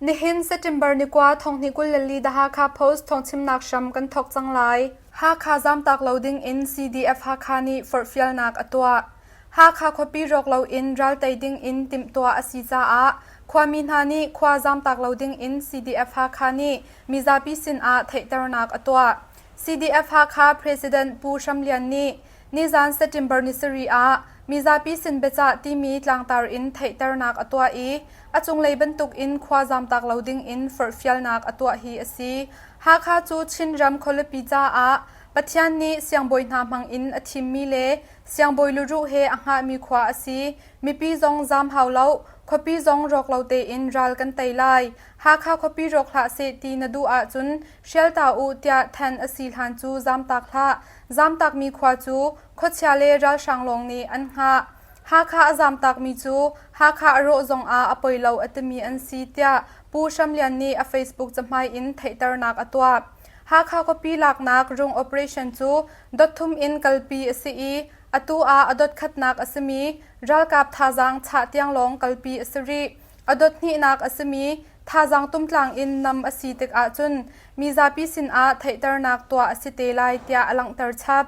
Nihin September ni kua thonghni kul le li The Hakha Post thawngchimnak hram kan thawk cang lai. Hakha zamtak lo ding in CDF Hakha nih forhfialnak a tuah. Hakha khuapi rawk lo in ral tei ding in timhtuah a si caah khuami hna nih khua zamtak lo ding in CDF Hakha nih mizapi sin ah theihternak a tuah. CDF Hakha President Pu Hram Lian nih Nizan September nisarih ah mizapi sin biacah timi tlangtar in theihternak a tuah i a cunglei bantukin khua zamtak lo dingin forhfialnak a tuah hi a si. Hakha cu Chinram khualipi caah Pathian nih siangbawi hna hmangin a thimmi le siangbawi luruh he a hngahmi khua a si. Mipi zong zam hau lo, khuapi zong rawk lo tein ral kan tei lai. Hakha khuapi rawk hlah seh ti na duh ahcun hrial ta u tiah thanh a si hlan cu zamtak hlah. Zamtakmi khua cu khuachia le ralhrang lawng nih an hngah. Hakha a zamtakmi cu Hakha a rawh zongah a poi lo a timi an si tiah Pu Hram Lian nih a Facebook cahmai in theihternak a tuah. Hakha khuapi laknak rung operation cu dotthum in kalpi a si i atu ah a dotkhatnak a simi ralkap thazaang chah tiang lawng kalpi a si rih. A dothnihnak a simi thazaang tumtlang in nam a si tikah cun mizapi sinah theihternak tuah a si te lai tiah a langhter chap.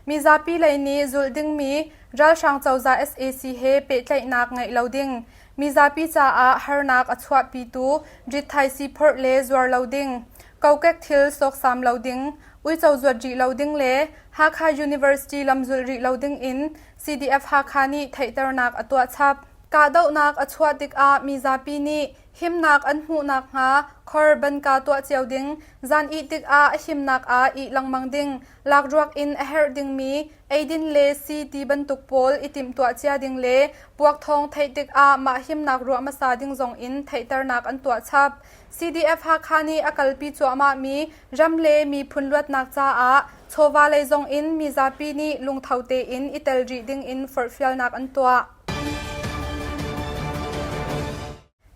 Mizapi lei nih zulh dingmi Ralhrang Cozah sac he pehtlaihnak ngeih lo ding, mizapi caah harnak a chuahpitu rithaisi phorh le zuar lo ding, kokek thil sawksam lo ding, uico zuat rih lo ding le Hakha University lam zulh rih lo ding in CDF-Hakha nih theihternak a tuah chap. Kahdohnak a chuah tikah mizapi nih himnak an hmuh nakhnga khor banka tuah cio ding, zan ih tikah a himnak ah ih lengmang ding, lakruak in a herh dingmi eidin le sii ti bantuk pawl i timhtuah cia ding le puakthawng theih tikah mah himnak ruah hmasa ding zong in theihternak an tuah chap. CDF-Hakha nih a kalpi cuahmahmi ram le miphun luatnak caah chawva lei zongin mizapi nih lungtho tein i tel rih dingin forhfialnak an tuah.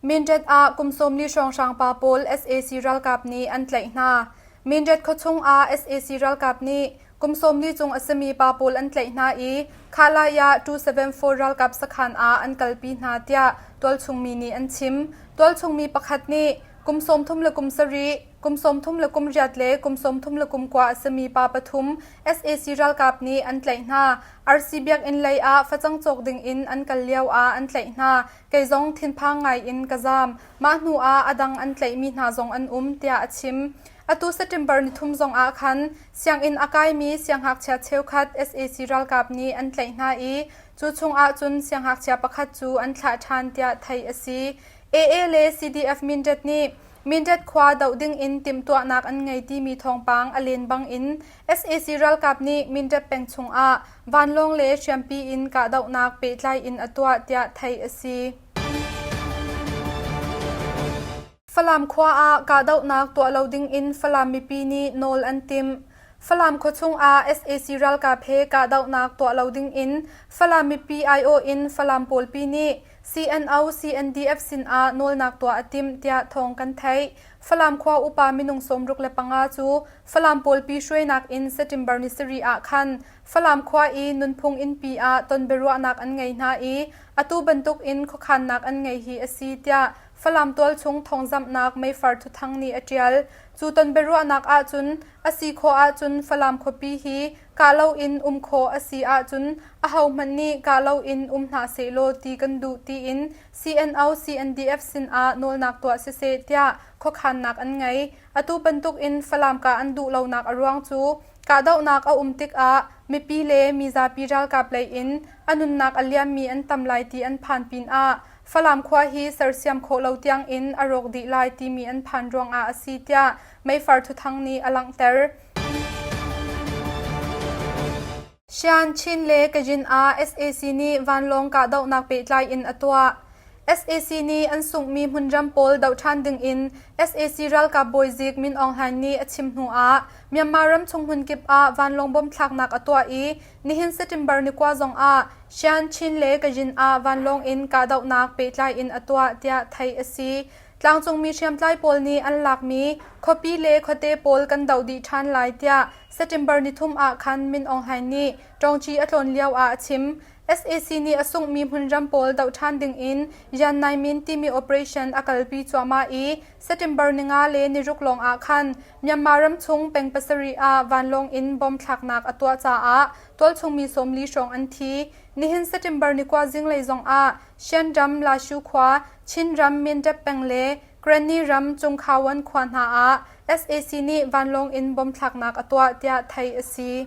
Mindat ah kum sawmli hrawnghrang pa pawl sac ralkap nih an tlaih hna. Mindat khuachung ah sac ralkap nih Kum sawmli chung a simi pa pawl an tlaih hna i Khalai ah Tu-74 ralkap sakhan ah an kalpi hna tiah tualchungmi nih an chim. Tualchungmi pakhat nih kum sawmthum le kum sarih, kum sawmthum le kum riat le kum sawmthum le kum kua a simi pa pathum sac ralkap nih an tlaih hna. RC biakinn lei ah facang cawk ding in an kal lio ah an tlaih hna. Kei zong thinphang ngai in ka zaam. Mah hnu ah a dang an tlaihmi hna zong an um tiah a chim. Atu September nithum zongah khan sianginn a kaimi siangngakchia cheukhat sac ralkap nih an tlaih hna i cu chungah cun siangngakchia pakhat cu an thlah ṭhan tiah theih a si. AA le CDF Mindat nih Mindat khua doh dingin timhtuahnak an ngei timi thawngpang a len bangin sac ralkap nih Mindat peng chungah vanlawng le hriampi in kahdohnak pehtlai in a tuah tiah theih a si. Falam khua ah kahdohnak tuah lo dingin Falam mipi nih nawl an timh. Falam khuachung ah sac ralkap he kahdohnak tuah lo dingin Falam mipi aiawh in Falam pawlpi nih CNO CNDF sinah nawlnak tuah a timh tiah thawng kan theih. Falam khua upa minung sawmruk le panga cu Falam pawlpi hruainak in September ni sarih ah khan Falam khua i nunphung innpi ah tonbiaruahnak an ngei hna i atu bantukin khuakhannak an ngei hi a si tiah Falam tualchung thawngzamhnak meifar thuthang nih a ṭial. Cu tonbiaruahnak ahcun a si khawh ahcun Falam khuapi hi kah loin um khawh a si ahcun ahohmanh nih kah loin um hna sehlaw ti kan duh tiin CNO CNDF sinah nawlnak tuah siseh tiah khuakhannak an ngei. Atu bantukin Falam kah an duh lonak a ruang cu kahdohnak a um tikah mipi le mizapi ralkap lei in a nunnak a liammi an tam lai ti an phan pinah Falam khua hi sersiam khawh lo tiangin a rawk dih lai timi an phan ruangah a si tiah meifar thuthang nih a langhter. Shan, Chin le Kajin ah sac nih vanlawng kahdohnak pehtlai in a tuah. sac nih an sunghmi hmunram pawl doh ṭhan dingin sac ralkap bawizik Min Aung Hlaing nih a chim hnu ah Myanmar ram chung hmun kip ah vanlawng bom thlaknak a tuah i nihin September ni kua zongah Sianchin le Kazhin ah vanlawng in kahdohnak pehtlai in a tuah tiah theih a si. Tlangcungmi hriamtlai pawl nih an lakmi khuapi le khuate pawl kan doh dih ṭhan lai tiah September ni thum ah khan Min Aung Hlaing nih ṭawngci a tlawn lio ah a chim. sac nih a sunghmi hmunram pawl doh ṭhan ding in Yan Nai Min timi operation a kalpi cuahmah i September ni nga le niruk lawng ah khan Myanmar ram chung peng pasarih ah vanlawng in bomb thlaknak a tuah caah Tualchungmi sawmli hrawng an thi. Nihin September ni kua zinglei zongah Shan ram Lashu khua, Chinram Myintep peng le Granny ram Cungkhawan khua hna ah sac nih vanlawng in bom thlaknak a tuah tiah theih a si.